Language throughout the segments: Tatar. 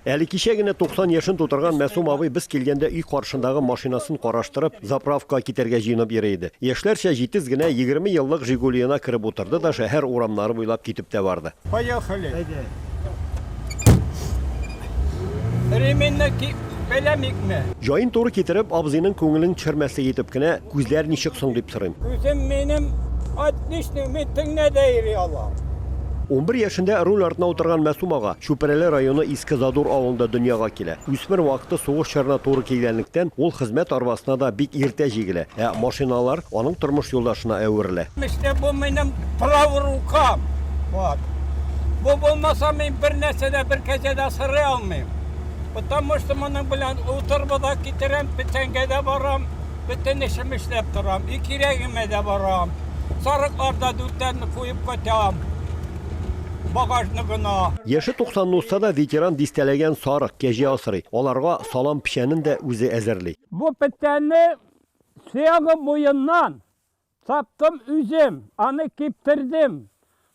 Әле кичә генә 90 яшен тутырган Мәсум абый без килгәндә өй каршындагы машинасын караштырып, заправкага китәргә җыенып йөри иде. Яшьләрчә җитез генә 20 еллык Жигулиена кереп утырды да шәһәр урамнары буйлап китеп тә барды. Поехали! Әйдә! Ременьне ки! Пеләмикме? Җаен туры китереп, абзыйның күңелен төшермәслек итеп кенә, Күзләр ничек соң? дип сорыйм. Күзем минем отличный, мин төнлә дә йөри алам. Унбер яшендә руль артына утырган Мәсүм ага Чүпрәле районы Иске Задур авылында дөньяга килә. Үсмер вакыты сугыш чорына туры килгәнлектән, ул хезмәт арбасына да бик иртә җигелә, ә машиналар аның тормыш юлдашына әверелә. Эштә бу минем правый рукам. Вот. Бу булмаса, мин бернәрсә дә, бер кәҗә дә асрый алмыйм. Потому что моның белән утырба да китерәм, печәнгә дә барам, бөтен эшем эшләп торам, и кирәгемә дә барам. Сарыкларда дүртәрне куеп кайтам. Багажны гына. Яше 90 узса да ветеран дистәләгән сарык, кәҗә асрый. Аларга салам печәнен дә үзе әзерли. Бу печәнне Сеага буеннан Таптым үзем, аны киптердем.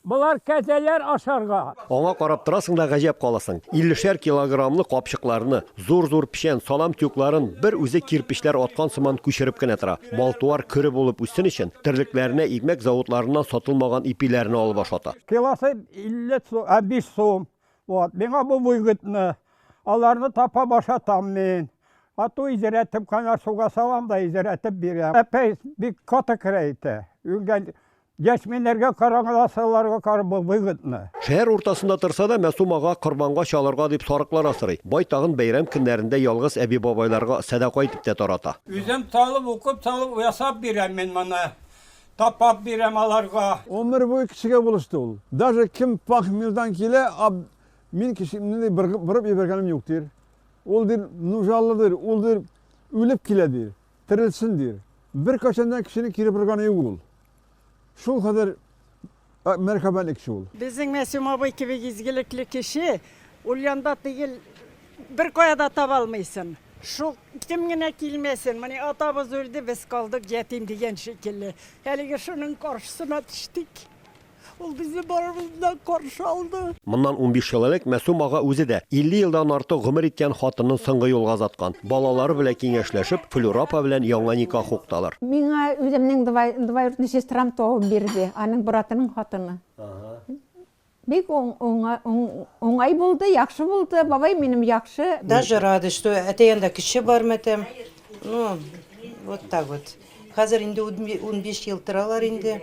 Болар кәзәләр ашарга. Аңа карап торасың да гаҗәп каласың. Иллешәр килограммлы капчыкларны, зур-зур печән, салам тюкларын бер үзе кирпечләр аткан сыман күчереп кенә тора. Мал-туар көре булып үссен өчен, терлекләренә игмәк заводларыннан сатылмаган ипиләрне алып ашата. Килосы 50 сум, ә биш сум. Вот, миңа бу выгодно. Аларны тапап ашатам мин. Ату изерәтеп кана суга салам да изерәтеп бирәм. Әпәй бик каты керә ите. Үгән яшьминнәргә караганда сыларга карап бу выгодно. Шәһәр уртасында торса да, Мәсум ага корбанга чалырга дип сарыклар асрый. Байтагын бәйрәм көннәрендә ялгыз әби-бабайларга сәдака итеп тә тарата. Үзем талып, укып, салып ясап бирәм мин моны. Тапап бирәм аларга. Гомер буе кешегә булышты ул. Даже кем похмелдан килә, аб, мин кешемне ди быргып бырып ебәргәнем юк, дир. Ул дир, нужаллы дир, ул дир, үлеп килә дир, терелсен дир. Беркайчан да кешене кире бырганы юк ул. Шул хәзер Мәрхәбәлек шул. Безнең Мәсүм абый кебек изгелекле кеше Ульянда тигел, беркая да таба алмыйсын. Шул кем генә килмәсен, менә атабыз үлде, без калдык ятим дигән шикелле. Әлеге шуның каршысына төштек. Ул безне барыбызны да каршы алды. Моннан унбиш ел элек Мәсүм ага үзе дә 50 елдан артык гомер иткән хатынын соңгы юлга озаткан. Балалары белән киңәшләшеп, Флюра апа белән яңа никах хукталар. Миңа үземнең двоюродный сестрам табып бирде, аның братының хатыны. Бик уңай булды, яхшы булды, бабай минем яхшы. Даже рада, что әти янында кеше бар матәм. Ну, вот так вот. Хәзер инде унбиш ел торалар инде.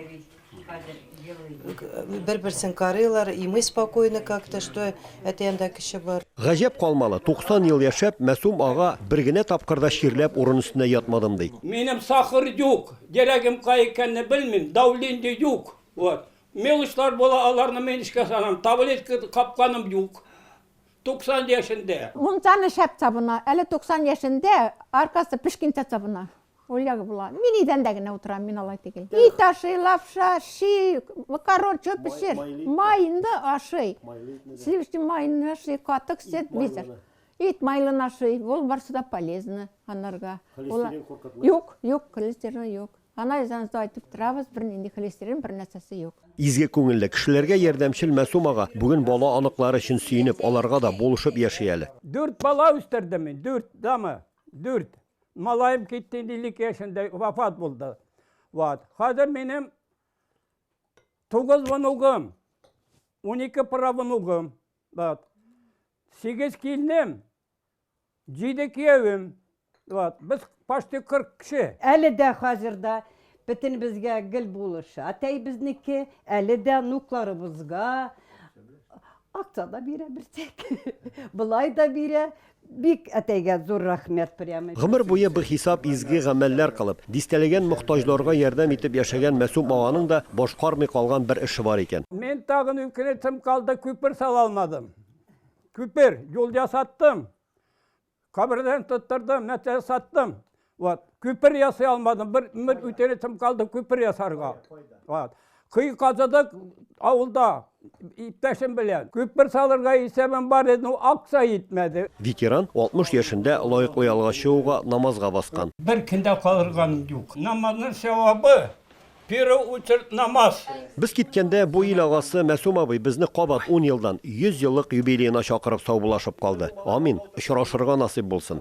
Бер-берсен карыйлар, и мы спокойны как-то, что әти анда кеше бар. Гаҗәп калмалы, 90 ел яшәп, Мәсум ага бер генә тапкыр да чирләп урын өстенә ятмадым ди. Минем сахар юк, дерәгем кай икәнне белмим, давление юк. Вот. Мелочлар була, аларны мин эчкә салам, таблетка капканым юк. 90 яшендә. Мунчаны шәп табына, әле 90 яшендә аркасы пешкенчә табына. Ул ягы була. Мин идәндә генә утырам, мин алай түгел. Ит ташый, лапша, ши, макарон, чөп пешер. Майны ашый. Сливочный майны ашый, катык сөт, бизер. Ит майлын ашый, ул барсы да полезны анарга. Холестерин куркытмый? Юк, юк, холестерин юк. Анализыңызда айтып торабыз, бер нинди холестерин бер нәрсәсе юк. Изге күңелле кешеләргә ярдәмчел Мәсум ага бүген бала аныклары өчен сөенеп, аларга да булышып яши әле. Дүрт бала үстердем мин, дүрт, дама. Дүрт. Малаем китте, 52 яшендә вафат булды. Вот. Хәзер минем тугыз внугым, 12 правнугым, вот. Сигез килнем, җиде киявем. Вот. Без почти 40 кеше. Әле дә хәзер дә Бөтенебезгә гел булыша. Әтәй безнеке, әле дә внукларыбызга акча да бирә берсек. Болай да бирә. Бик әтәйгә зур рәхмәт прямо. Гомер буе бихисап изге гамәлләр кылып, дистәләгән мохтаҗларга ярдәм итеп яшәгән Мәсүм аганың да башкармый калган бер эше бар икән. Мин тагын үкенечем калды, күпер сала алмадым. Күпер, юл ясаттым. Кабердән тоттырдым, мәтә саттым. Вот. Күпер ясый алмадым. Бер мир үтеретем калды күпер ясарга. Вот. Кый казыдык авылда иптәшем белән. Күпер салырга исәбем бар иде, но акса итмәде. Ветеран 60 яшендә лаеклы ялга чыгуга намазга баскан. Бер көндә калырган юк. Намазның сәвабы Первый үтерт намаз. Без киткәндә бу ил агасы Мәсум абый безне кабат ун елдан, 100 еллык юбилеена чакырып саубуллашып калды. Амин, очрашырга насыйп булсын.